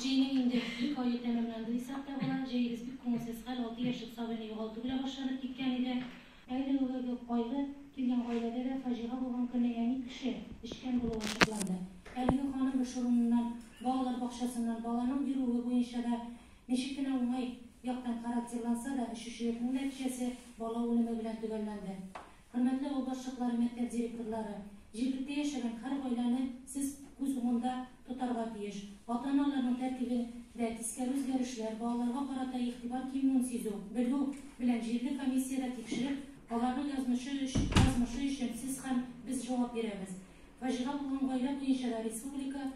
Җәйнең инде ике ае тәмамланды дисәк тә була. Җәебез бик күңелсез хәл, алты яшьлек сабыйны югалту белән башланып киткән иде. Әле ул элек кайгы килгән гаиләдә дә фаҗига булган көнне әни кеше эчкән булуы ачыкланды. Әлеге ханым эш урыныннан, балалар бакчасыннан, баланың йөрүе буенча да ничек кенә уңай яктан характерланса да, эчүчелекнең нәтиҗәсе бала үлеме белән төгәлләнде. Хөрмәтле авыл башчыклары, мәктәп директорлары! Җирлектә яшәгән һәр гаиләне сез күз уңында тотарга тиеш. Ата-аналарның тәртибендә тискәре үзгәрешләр, балаларга карата игътибар кимүен сизү, белү белән җирле комиссиядә тикшереп, аларның язмышы язмышы өчен сез һәм без җавап бирәбез. Фаҗига булган гаилә буенча да республика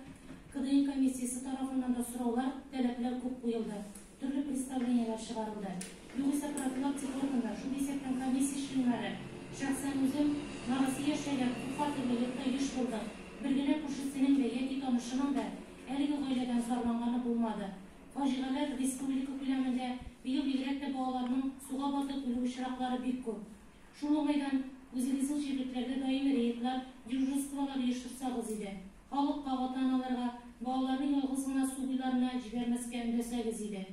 КДИ комиссиясе тарафыннан да сораулар, таләпләр күп куелды. Төрле представлениеләр чыгарылды. Югыйсә профилактик органнар, шул исәптән комиссия членнары, шәхсән үзем, нарасый яшәгән, күп фатирлы йортта еш булдык. Бер генә күршесенең дә яки танышының да әлеге гаиләдән зарланганы булмады. Фаҗигаләр республика күләмендә, быел бигрәк тә балаларның суга батып үлү очраклары бик күп. Шул уңайдан үзегезнең җирлекләрдә даими рейдлар, дежурстволар оештырсагыз иде. Халыкка, ата-аналарга, балаларны ялгыз гына су буйларына җибәрмәскә өндәсәгез иде.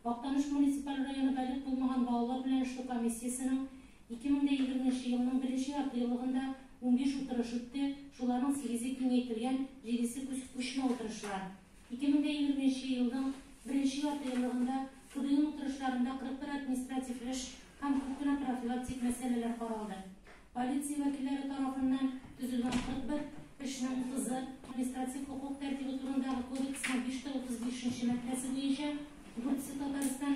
Актаныш муниципаль районы балигъ булмаган балалар белән эшләү комиссиясенең 2020 нче елның беренче ярты еллыгында унбиш утырыш үтте, шуларның сигезе киңәйтелгән, җидесе күчмә утырышлар. Ике мең дә егерме нче елның беренче яртыеллыгында КДИның утырышларында 41 административ эш һәм күп кенә профилактик мәсьәләләр каралды. Полиция вәкилләре тарафыннан төзелгән 41 эшнең 30 ы Административ хокук тәртибе турындагы кодексның 535 нче маддәсе буенча, дүртесе Татарстан,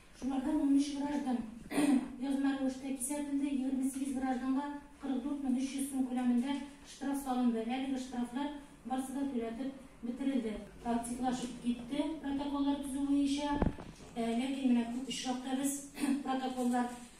Шулардан 13 граждан язма рәвештә кисәтелде, 28 гражданга 44 мең 300 сум күләмендә штраф салынды. Әлеге штрафлар барысы да түләтеп бетерелде. Активлашып китте протоколлар төзү буенча. Ләкин менә күп очракта без протоколлар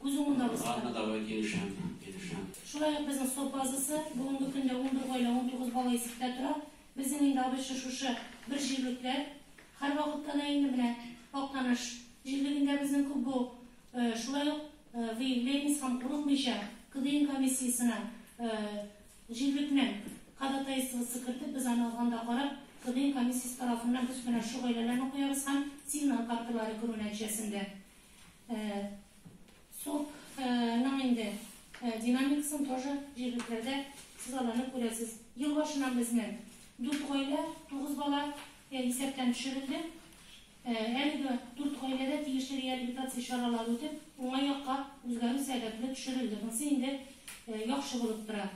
Күз уңында узды. Ладно, давай, килешәм, килешәм. Шулай ук безнең сто базасы, бүгенге көндә унбер гаилә, унтугыз бала исәптә тора. Безнең инде абыйча шушы бер җирлекләр. Һәрвакытта да инде менә Актаныш җирлегендә безнең күп бу. Шулай ук выявляемость һәм курыкмыйча КДИН комиссиясенә җирлекнең ходатайствосы кертеп, без аны алганда карап, КДИН комиссиясе тарафыннан без менә шул гаиләләрне куябыз һәм сигнал карталары керү нәтиҗәсендә. Сок ның инде динамикасын тоже җирлекләрдә сез аларны күрәсез. Ел башыннан безнең дүрт гаилә, тугыз бала исәптән төшерелде. Әлеге дүрт гаиләдә тиешле реабилитация чаралары үтеп, уңай якка үзгәрү сәбәпле төшерелде. Монсы инде яхшы булып тора.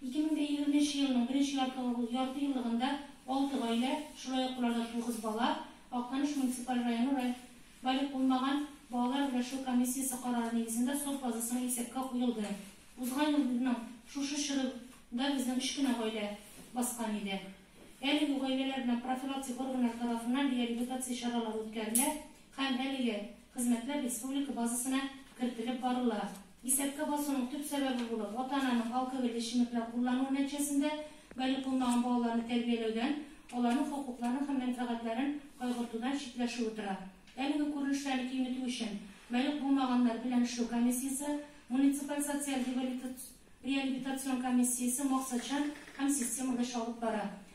2020 елның беренче ярты еллыгында алты гаилә, шулай ук боларда тугыз бала Актаныш муниципаль районы Балигъ булмаган балалар өләшү комиссиясе карары нигезендә сот базасына исәпкә куелды. Узган елның шушы чоры да безнең өч кенә гаилә баскан иде. Әлеге гаиләләр белән профилактик органнар тарафыннан реабилитация чаралары үткәрелә һәм әлеге хезмәтләр республика базасына кертелеп барыла. Исәпкә басуның төп сәбәбе булып, ата-ананың алкоголь эчемлекләр куллануы нәтиҗәсендә балигъ булмаган балаларны тәрбияләүдән, аларның хокукларын һәм мәнфәгатьләрен кайгыртудан читләшүе тора. Әлеге күренешләрне киметү өчен балигъ булмаганнар белән эшләү комиссиясе, муниципаль социаль реабилитацион комиссиясе максатчан һәм системалы эш алып бара.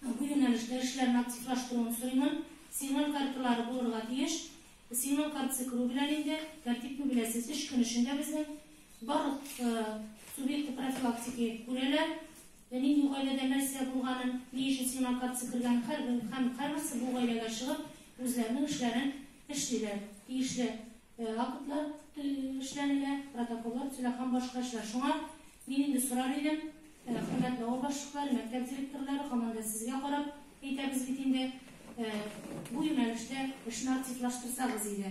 Һәм бу юнәлештә эшләрне активлаштыруын сорыймын. Сигнал карталары булырга тиеш. Сигнал картасы керү белән инде, тәртипне беләсез, өч көн эчендә безнең барлык субъекты профилактики күрәләр. Нинди гаиләдә нәрсә булганын, ни өчен сигнал картасы кергәнен һәрбер һәм һәрберсе бу гаиләгә чыгып, үзләренең эшләрен эшлиләр. Тиешле актлар эшләнелә, протоколлар төзелә һәм башка эшләр. Шуңа Мин инде сорар идем, хөрмәтле авыл башлыклары, мәктәп директорлары, һаман да сезгә карап әйтәбез бит инде, бу юнәлештә эшне активлаштырсагыз иде.